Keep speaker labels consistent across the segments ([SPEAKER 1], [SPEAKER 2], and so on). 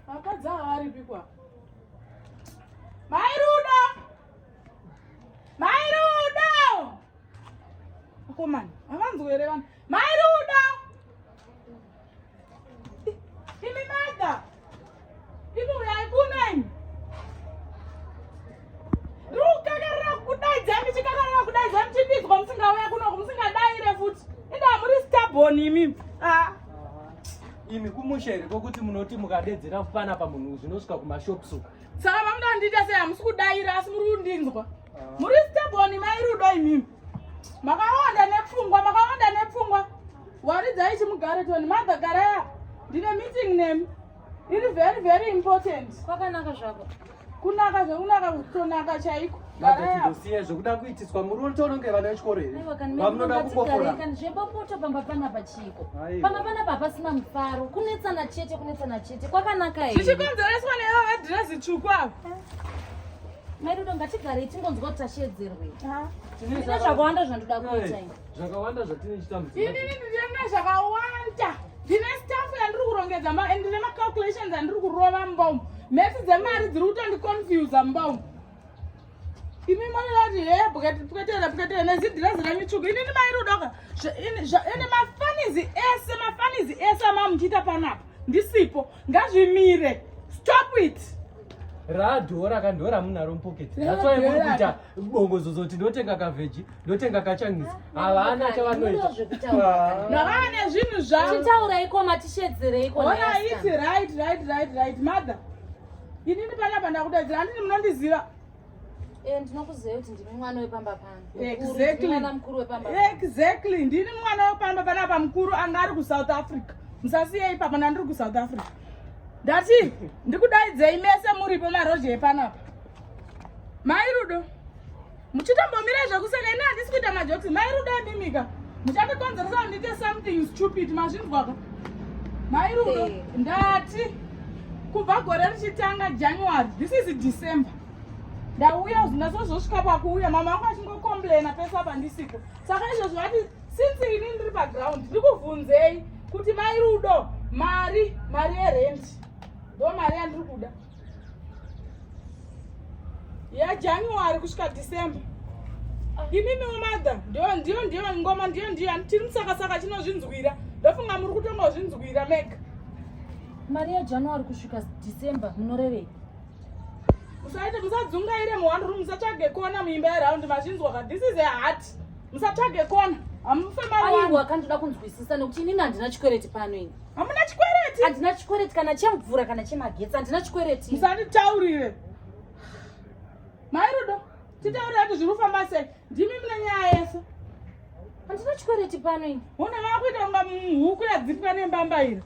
[SPEAKER 1] Vakadzi ava varipikwa. Mai Rudo! Mai Rudo! Akomana, havanzwe here vanhu? Mai Rudo! Imi mada! Imi uyai kuno imi! Rukakarira kudaidza imi chikakarira kudaidza imi chipinzwa musingauya kuno musingadai re futi. Inda muri stubborn imi. Ah.
[SPEAKER 2] imi kumusha here kokuti munoti mukadedzera kupana pamunhu zvinosvika kumashops uku saka mamuda kundiita
[SPEAKER 1] sei hamusi kudaira asi muri kundinzwa ah. muri staboni mairudo imimi makawanda nepfungwa makawanda nepfungwa waridzai chimugare toni madha garaya ndine meeting nemi iri very very important kwakanaka zvako
[SPEAKER 3] kunaka zvekunaka
[SPEAKER 1] kutonaka chaiko ndosiya zvekuda
[SPEAKER 2] kuitiswa muri uri tononge vana vechikoro here vamunoda kungoforakani zvebopoto pamba
[SPEAKER 3] panapa chiiko pamba panapa hapasina mufaro kunetsana chete kunetsana chete kwakanaka here zvichikonzereswa nevo
[SPEAKER 1] vedhirezi tsvuku avo eh.
[SPEAKER 3] mairudo ngatigarei tingonzwa kuti tasheedzerwei tine zvakawanda zvandoda kuita zvakawanda
[SPEAKER 2] zvatine chitambudziko inini
[SPEAKER 1] ndine zvakawanda ndine staff yandiri kurongedza and ndine macalculations andiri kurova mbomu mhesi dzemari dziri kutondiconfusa mbomu imi maati he bukati pukatera pukatera nezidhirazi renyu tsvuku inini mairudoka ende mafanizi ese mafanizi ese amamuchiita panapa ndisipo ngazvimire stop it radhora
[SPEAKER 2] kandora munaro mupoketi that's why muri kuita bongozozo tinotenga kavheji ndotenga kachanisi havana chavanoita
[SPEAKER 1] navane zvinhu zvavachitauraiko
[SPEAKER 3] matishedzereiko ona iti right
[SPEAKER 1] right right right mother inini panapa ndakudaidzira handini munondiziva eh,
[SPEAKER 3] ndinokuziva kuti ndimi mwana wepamba panoana mukuru
[SPEAKER 1] wepamba exactly ndini mwana wepamba panapa mukuru anga ari kusouth africa musasiye ipapa ndandiri kusouth africa ndati ndikudaidzei mese muripo marozhe epanapa mai rudo muchitombomira zvekuseka ini handisi kuita majokisi mai rudo ndimika muchandikonzeresa kundiite something stupid mazvinzwaka mai rudo ndati kubva gore richitanga january this is december ndauya ndazozosvika pakuuya mama vangu vachingocomplaina pese apa ndisiko saka izvozvo vati since ini ndiri paground ndikubvunzei kuti mai rudo mari mari yerenti ndo mari yandiri kuda yajanuary kusvika december imimiwo mother ndiyo ndiyo ndiyo ngoma ndiyo ndiyo tiri musakasaka chinozvinzwira ndofunga muri kutonga kuzvinzwira mega mari
[SPEAKER 3] yajanuary kusvika december munorevei musaite
[SPEAKER 1] musadzungaire muhwani ru musatsvage kona muimba yeraundi mazvinzwa ka this is a heart musatsvage kona hamufe mari aiwa
[SPEAKER 3] kandoda kunzwisisa nekuti inini handina chikwereti pano ini Hamuna chikwereti?
[SPEAKER 1] Handina chikwereti kana
[SPEAKER 3] chemvura kana chemagetsi. Handina chikwereti. Musanditaurire.
[SPEAKER 1] Mai Rudo, titaurira kuti zviri kufamba sei? Ndimi mune nyaya yese. Handina
[SPEAKER 3] chikwereti pano ini. Hona vakuita kunga
[SPEAKER 1] huku yadzipwa nembamba iri.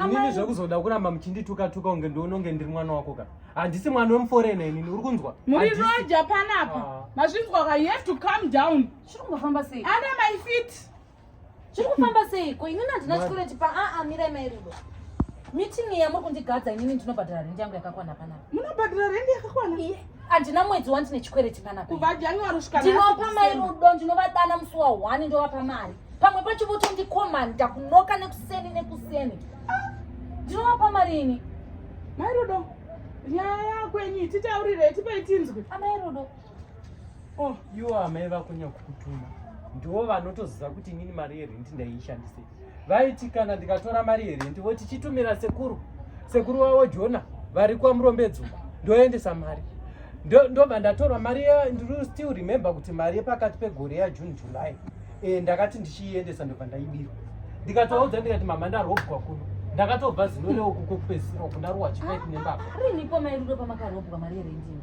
[SPEAKER 1] Inini
[SPEAKER 2] zvekuzoda kuramba muchindituka tuka unge ndiononge ndiri mwana wako ka. Handisi mwana wemuforena inini uri kunzwa? Muri roja
[SPEAKER 1] panapa. Ah. Mazvinzwa ka you have to calm down. Chiri kungofamba sei?
[SPEAKER 3] Ana my feet.
[SPEAKER 1] Chiri
[SPEAKER 3] kufamba seiko? Inini handina chikoreti pa a a mirai mai Rudo. Meeting iya muri kundigadza inini ndinobhadhara rent yangu yakakwana panapa. Munobhadhara rent yakakwana?
[SPEAKER 1] Iye handina mwedzi
[SPEAKER 3] wani tine chikwereti panapa. Kubva January kusvika
[SPEAKER 1] ndinopa mai Rudo
[SPEAKER 3] ndinovadana musi wa 1 ndovapa mari. Pamwe pacho votondikomanda kunoka nekuseni nekuseni. Ah. Ndinovapa mari ini. Mai Rudo
[SPEAKER 1] nyaya yako yenyu titaurirei tipei tinzwe. Amai Rudo.
[SPEAKER 3] Oh,
[SPEAKER 2] iwo amai vako nyakukutuma ndiwo vanotoziva kuti inini mari yerenti ndaiishandise vaiti kana ndikatora mari yerenti voti chitumira sekuru sekuru wavo jona vari kwamurombedzuku ndoendesa mari ndobva ndatora mari ndiri still remember kuti mari yepakati pegore yajune july e, ndakati ndichiiendesa ndobva ndaibirwa ndikatovaudza ndikati mama ndarobwa kuno ndakatobva zino reokuko kupedzisira uku ndarowa chipaipi nembaba riniko mairuro
[SPEAKER 3] pamakarobwa mari yerentini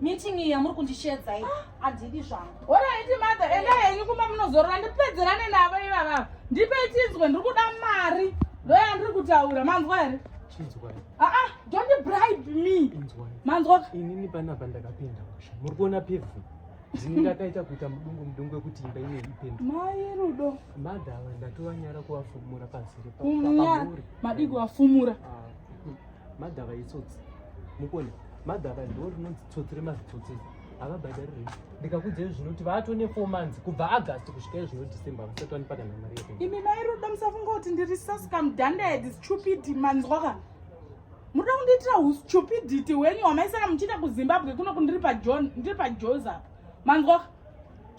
[SPEAKER 3] Meeting iyi yamuri kundishedza iyi handidi zvangu. Horaiti mother
[SPEAKER 1] enda henyu kumba munozorora ndipedzerane navo ivavavo. Ndipe chinzwe ndiri kuda mari ndoya ndiri kutaura manzwa here?
[SPEAKER 2] Chinzwai. Ah ah don't
[SPEAKER 1] bribe
[SPEAKER 2] me. Inzwai.
[SPEAKER 1] Manzwa.
[SPEAKER 2] Inini panapa ndakapinda musha. Muri kuona
[SPEAKER 1] pevhu.
[SPEAKER 2] Ndini ndakaita kuita mudungu mudungu wekuti imba ine ipenda. Mai Rudo.
[SPEAKER 1] Madhava
[SPEAKER 2] ndatovanyara kuvafumura pasi repa. Kumya
[SPEAKER 1] madii kuvafumura. Ah.
[SPEAKER 2] Magava itsotsi. Mukoni. Magava ndoo rinonzi tsotsi remazitsotsi. Havabhadhari rei. Ndikakudza izvi zvinoti vato ne four months kubva August kusvika izvino December hamusati wanipa kana mari yekuenda. Imi mai Rudo musafunga
[SPEAKER 1] kuti ndiri sasika mudhanda head stupid manzwa ka. Munoda kundiitira hustupidity hwenyu hwamaisara muchiita kuZimbabwe kuno kundiri paJohn ndiri paJoza. Manzwa ka.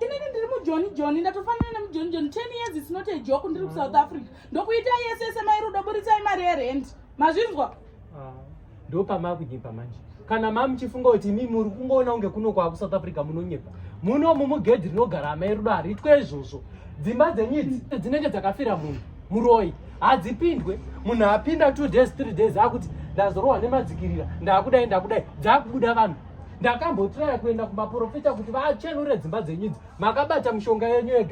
[SPEAKER 1] inini ndiri mujoni joni ndatofanana nemujoni joni ten years is not a joke ndiri kusouth mm. africa ndokuita yese yese mairudo buritsai mari yerent mazvinzwa ah,
[SPEAKER 2] ndo pamakunyepa manje kana mamuchifunga kuti imi muri kungoona kunge kuno kwakusouth africa munonyepa muno mumugedhi rinogara amairudo hariitwe izvozvo dzimba dzenyidzi dzinenge dzakafira munhu muroyi hadzipindwe munhu apinda two days three days akuti ndazorohwa nemadzikirira ndakudai ndakudai dzakubuda vanhu ndakambotiraya kuenda kumaporofita kuti vachenure dzimba dzenyudzi makabata mushonga yenyu ega